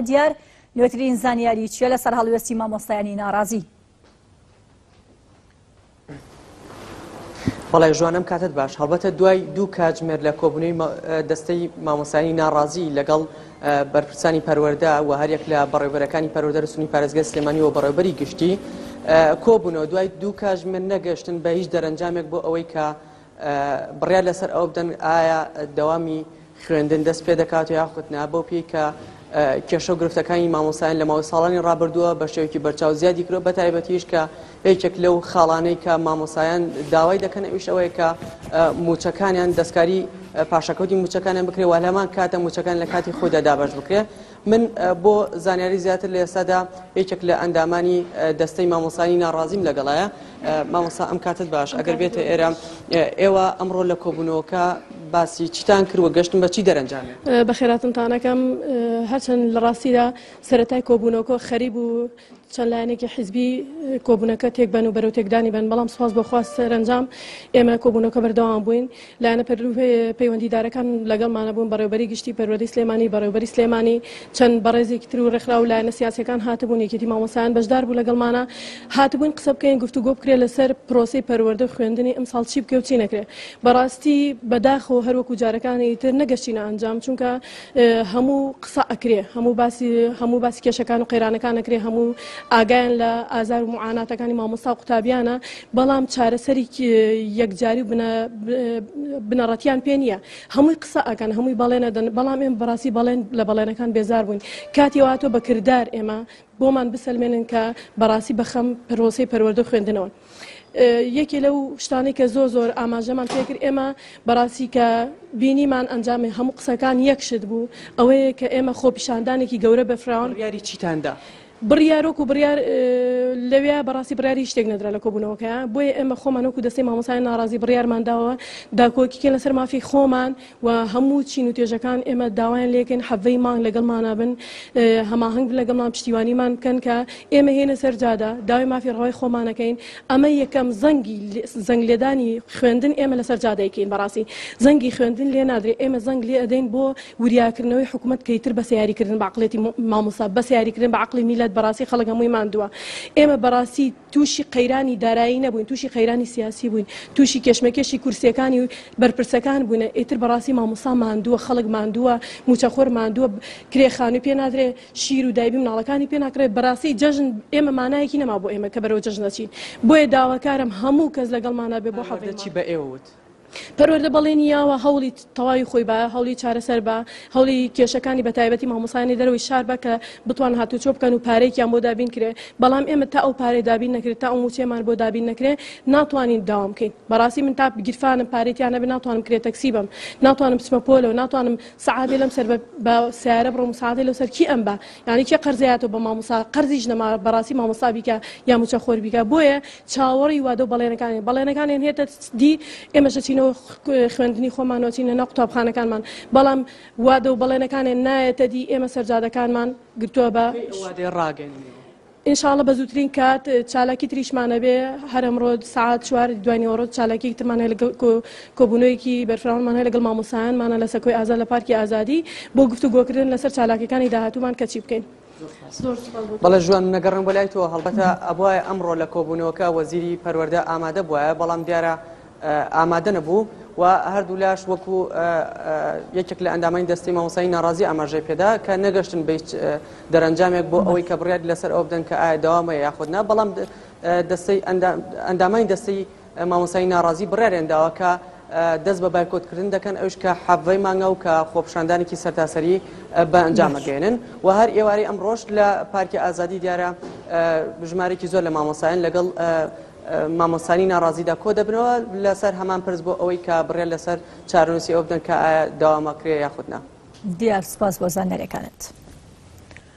دیار نوێترین زانیاری چیە لەسەر هەڵوێستی مامۆستایانی ناڕازی؟ بەڵێ ژوانم کاتت باش هەڵبەتە دوای دوو کاتژمێر لە کۆبنەوەی دەستەی مامۆسانی ناڕازی لەگەڵ بەرپرسانی پەروەەردە و هەریەک لە بەڕێبەرەکانی پەرۆدە رسمی پارێزگە سلێمانی و بەڕێبەری گشتی کۆبوونەوە دوای دوو کاتژمێر نەگەشتن بە هیچ دەرەنجامێک بۆ ئەوەی کە بڕیار لەسەر ئەوە بدەن ئایا دەوامی خوێندن دەست پێ دەکات یاخود نا بەو پێی کە کێشە و گرفتەکانی مامۆسایان لە ماوەی ساڵانی ڕابردووە بە شێوەیەکی بەرچاو زیادی کرۆ بە تایبەتیش کە یەکێک لەو خاڵانەی کە مامۆسایان داوای دەکەن ئەوش ئەوەیە کە موچەکانیان دەستکاری پاشەکەوتی موچەکانیان بکرێ والەمان کاتە موچەکان لە کاتی خۆدا دابش بکرێ من بۆ زانیاری زیاتر لە ئێستادا یەکێک لە ئەندامانی دەستەی مامۆسانی ناڕازیم لەگەڵایە مامۆسا ئەم کاتت باش ئەگەر بێتە ئێرە ئێوە ئەمڕۆ لە کۆبوونەوەکە باسی چتان کردوە گەشتن بە چی دەرەنجام بە خێراتنتانەکەم هەرچەند لە ڕاستیدا سەتای کۆبوونەوەکە خەریب و چەند لایەنێکی حیزبی کۆبوونەکە تێک بەن و بەرەو تێکدانی بن بەڵام سپاس بۆ خواست سەرنجام ئێمە کۆبوونەکە بەردەوام بووین لایەنە پەیوەندیدارەکان لەگەڵمانە بوون بەڕێوبەری گشتی پەروەدەی سلێمانی بەڕێوبەری سلێمانی چەند بەڕێزێکی تر و ڕێکخرا و لایەنە سیاسەکان هاتبوون یەکێتی مامۆسایان بەشدار بوو لەگەڵمانە هاتبووین قسە بکەین گفتوگۆ بکرێت لەسەر پرۆسی پەروەردە و خوێندنی ئەمساڵ چی بکە و چی نەکرێت بەڕاستی بەداخەوە هەروەکو جارەکانی تر نەگەشتینە ئەنجام چونکە هەموو قسە ئەکرێ هەموو باسی هەموو باسی کێشەکان و قەیرانەکان ئەکرێ هەموو ئاگایان لە ئازار و معاناتەکانی مامۆستا و قوتابیانە بەڵام چارەسەری یەکجاری و بنەڕەتیان پێ نییە هەمووی قسە ئەکەن هەمووی بەڵێنە دەن بەڵام ئێم بەڕاستی بەڵێن لە بەڵێنەکان بێزار بووین کاتی واتۆ بەکردار ئێمە بۆمان بسەلمێنن کە بەڕاستی بەخەم پرۆسی پەروەردە خوێندنەوەن یەکێ لەو شتانەی کە زۆر زۆر ئاماژەمان پێکرد ئێمە بەڕاستی کە بینیمان ئەنجامی هەموو قسەکان یەکشت بوو ئەوەیە کە ئێمە خۆپیشاندانێکی گەورە بە فراون یاری چیتاندا. بڕیارۆک و بڕیار لەوێ بەڕاستی بڕیاری شتێک نەدرا لە کۆبوونەوەکە بۆیە ئێمە خۆمانۆک و دەستی مامۆسای ناڕازی بڕیارمانداوە داکۆکیکە لەسەر مافی خۆمان و هەموو چین و توێژەکان ئێمە داوایان لێکەین حەڤەی مانگ لەگەڵمانە بن هەماهنگ بن لەگەڵمان پشتیوانیمان بکەن کە ئێمە هێنە سەر جادە داوای مافی ڕەوای خۆمانەکەین ئەمە یەکەم زەنگی زەنگ لێدانی خوێندن ئێمە لەسەر جادەیەکەین بەڕاستی زەنگی خوێندن لێ نادرێت ئێمە زەنگ لێ ئەدەین بۆ وریاکردنەوەی حکوومەت کەیتر بە سیاریکردن بەعقلێتی مامۆسا بە سیاریکردن بە عقلی میلەت بەڕاستی خەڵک هەمووی ماندووە ئێمە بەڕاستی تووشی قەیرانی دارایی نەبووین تووشی قەیرانی سیاسی بووین تووشی کێشمەکێشی کورسیەکانی و بەرپرسەکان بوون ئیتر بەڕاستی مامۆسا ماندووە خەڵک ماندووە موچەخۆر ماندووە کرێ خانووی پێ نادرێ شیر و دایبی مناڵەکانی پێ ناکرێت بەڕاستی جەژن ئێمە مانایەکی نەما بۆ ئێمە کە بەرەوە جەژنەچین بۆیە داواکارم هەموو کەس لەگەڵمانە بێ بۆ حەڵدەچی بە ئێوە وت پەروەردە بەڵێنی یاوە هەوڵی تەواوی خۆی بە هەوڵی چارەسەر بە هەوڵی کێشەکانی بە تایبەتی مامۆسانی دەرەوەی شار بە کە بتوان هاتوچۆ بکەن و پارێکیان بۆ دابین کرێ بەڵام ئێمە تا ئەو پارێ دابین نەکرێت تا ئەو موچەمان بۆ دابین نەکرێ ناتوانین داوام بکەین بەڕاستی من تا گیرفانم پارێکیان نەبێ ناتوانم کرێ تەکسی بم ناتوانم بچمە پۆلەوە ناتوانم سعادی لەم سەر بە سیارە بڕۆم سعادی لەو سەر کی ئەم بە یعنی کێ قەرزەیەەوە بە مامۆسا قەرزیش نەما بەڕاستی مامۆسا بیکە یا موچە خۆر بیکە بۆیە چاوەڕێی وادە و بەڵێنەکانین، بەڵێنەکانیان هێتە دی، ئێمەش دەچینەوە خوێندنی خۆمان و ئەچینە ناو قوتابخانەکانمان، بەڵام وادە و بەڵێنەکانیان نایەتە دی، ئێمە سەرجادەکانمان گرتووە بە. کەی ئەو وادەیە ڕاگەیەننەوە؟ ان شاء اللە بە زووترین کات، چالاکی تریشمان ئەبێ، هەر ئەمڕۆ سەعات چوار ی دوای نیوەڕۆ چالاکییەکی ترمان هەیە لەگەڵ کۆ کۆبوونەوەیەکی بەرفراوانمان هەیە لەگەڵ مامۆستایانمانە لە سەکۆی ئازاد لە پارکی ئازادی بۆ گفتوگۆکردن لەسەر چالاکییەکانی داهاتوومان کە چی بکەین. بەڵێ ژوان من نەگەڕێم بۆ لای تۆ هەڵبەتە ئەبواە ئەمڕۆ لە کۆبوونەوەکە وەزیری پەروەەردە ئامادە بواە بەڵام دیارە ئامادە نەبوو و هەردوو لاش وەکو یەکێک لە ئەندامانی دەستی مامۆسایی ناڕازی ئاماژەی پێدا کە نەگەشتن بە هیچ دەرەنجامێک بۆ ئەوەی کە بڕیار لەسەر ئەو بدەن کە ئایا داوامە یاخودنا بەڵام دەستەی ئەندامانی دەستەی مامۆستای ناڕازی بڕیاریان داوە کە دەست بە بایکۆت کردن دەکەن ئەوش کە حەڤەی مانگە و کە خۆپشاندانێکی سەرتاسەری بە ئەنجامە گەێنن و هەر ئێوارەی ئەم ڕۆژ لە پارکی ئازادی دیارە بژمارێکی زۆر لە مامۆسایان لەگەڵ مامۆسانی ناڕازیدا کۆ دەبنەوە لەسەر هەمان پرس بۆ ئەوەی کە بڕێن لەسەر چارنووسی ئەو بدەن کە داوامەکرێ یاخودنا دیار سپاس بۆ زانیارەکانت.